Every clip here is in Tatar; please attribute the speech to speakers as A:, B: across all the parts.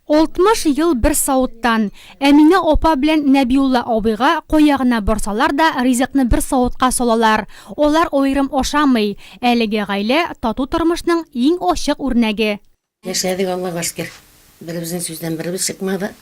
A: Алтмыш ел бер савыттан. Әминә апа белән Нәбиулла абыйга кая гына барсалар да, ризыкны бер савытка салалар. Алар аерым ашамый. Әлеге гаилә, тату тормышның иң ачык үрнәге. Яшәдек, Аллага
B: шөкер. Беребезнең сүздән беребез чыкмады,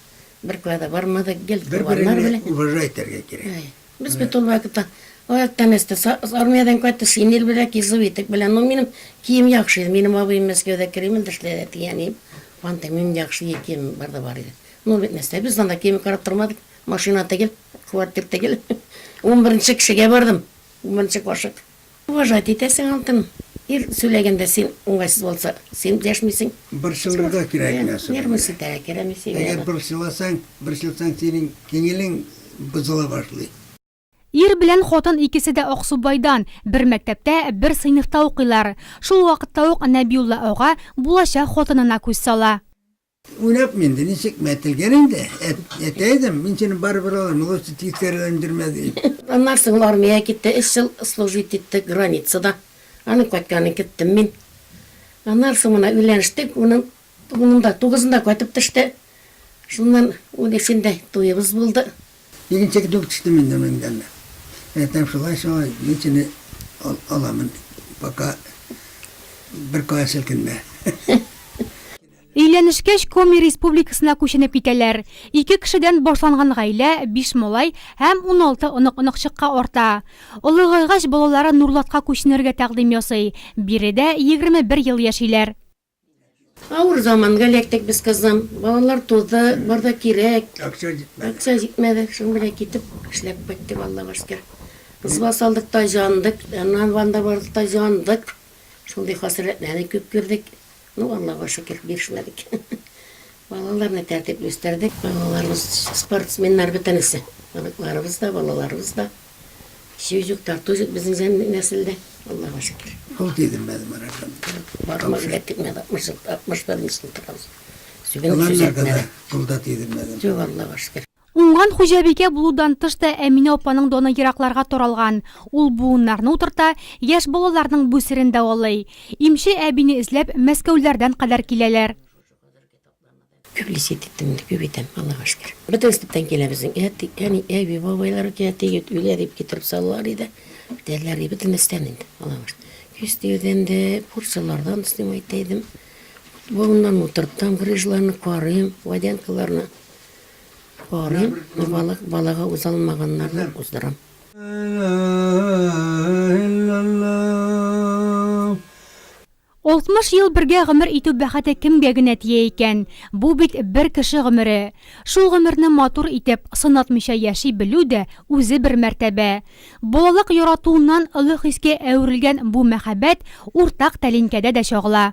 B: бер кая да бармадык, гел корбаннар белән. Бер-береңне уважать
C: итәргә кирәк. Без бит ул
B: вакытта аяктан-өстә, армиядән кайтып, шинель белән, кизовитек белән. Ну, минем кием яхшы иде. Минем абыем Мәскәүдә Кремль дә эшләде, әти, әнием. Анда минем яхшы ир киемем бар да бар иде. Ну, бит нәрсә, без анда кием карап тормадык. Машина түгел, квартир түгел. Унберенче кешегә бардым. Унберенче кашык. Уважать итәсең алтым. Ир сүләгәндә син уңайсыз булса, син дәшмисең. Борчылырга кирәкми
C: асылында. Нервы селтәрә керәме
B: син яна. Әгәр борчыласаң,
C: борчылсаң синең киңелең бозыла башлый. Ир
A: белән хатын икесе дә Аксубайдан, бер мәктәптә, бер сыйныфта укыйлар. Шул вакытта ук Нәбиулла ага булачак хатынына күз сала. Уйлап
C: инде, ничек мәтәлгән инде, әтәйдем, мин сине барыбер алырмын, лучше тискәреләндермә, ди. Аннан соң
B: армиягә китте, өч ел служить итте границада. Аның кайтканын көттем мин. Аннан соң менә өйләнештек, уның унында, тугызында кайтып төште. Шуннан унөчендә туебыз булды. Икенче көтүгә
C: төштем инде мин дә әле. Әтәм, шулай-шулай, мин сине аламын, пока бер кая селкенмә.
A: Өйләнешкәч, Коми Республикасына күченеп китәләр. Ике кешедән башланган гаилә биш малай һәм уналты онык-оныкчыкка арта. Олыгайгач, балалары Нурлатка күченергә тәкъдим ясый, биредә егерме бер ел яшиләр.
B: Авыр заманга эләктек без кызым. Балалар туды, бар да кирәк. Акча җитмәде. Акча җитмәде. Шуны белән китеп, эшләп кайттык, Аллага шөкер. Кызга салдык та җандык. Аннан Ванда бардык та җандык. Шундый хасрәтләрне күп күрдек. Ну, Аллага шөкер, бирешмәдек. Балаларны тәртипле үстердек. Балаларыбыз спортсменнар бөтенесе. Оныкларыбыз да, балаларыбыз да. Сүз юк, тарту юк безнең нәселдә. Аллага шөкер. Ул дидем мин
C: Маракан. Барма гына
B: тикмәде. 60 ел, 61 нче ел торабыз. Сүгенеп
C: сүз әйтмәде. Юк, Аллага шөкер.
B: Уңган хуҗабикә
A: булудан тыш та Әминә апаның даны еракларга таралган. Ул буыннарны утырта, яшь балаларның буй серен дәвалый. Имче әбине эзләп Мәскәүләрдән кадәр киләләр. Күп лисе
B: итеп тимне, күп итәм, Аллага шөкер. Бөтен сбтан килә безнең әти, әни, әби, бабайлар килә, тегет үлә дип китереп салалар иде, дәлләр ди, бөтен эштән инде, Аллага шөкер. Күз тиюдән дә, курчылардан өстим әйтә идем. Буыннарны утыртам, грыжларны карыйм, водянкаларны. Барыйм, Мамалык балагы узалмаганнарны уздырам.
A: Алтмыш ел бергә гомер итү бәхете кемгә генә тия икән? Бу бит бер кеше гомере. Шул гомерне матур итеп, сынатмыйча яши белү дә үзе бер мәртәбә. Балалык яратуыннан олы хискә әверелгән бу мәхәббәт уртак тәлинкәдә дә чагыла.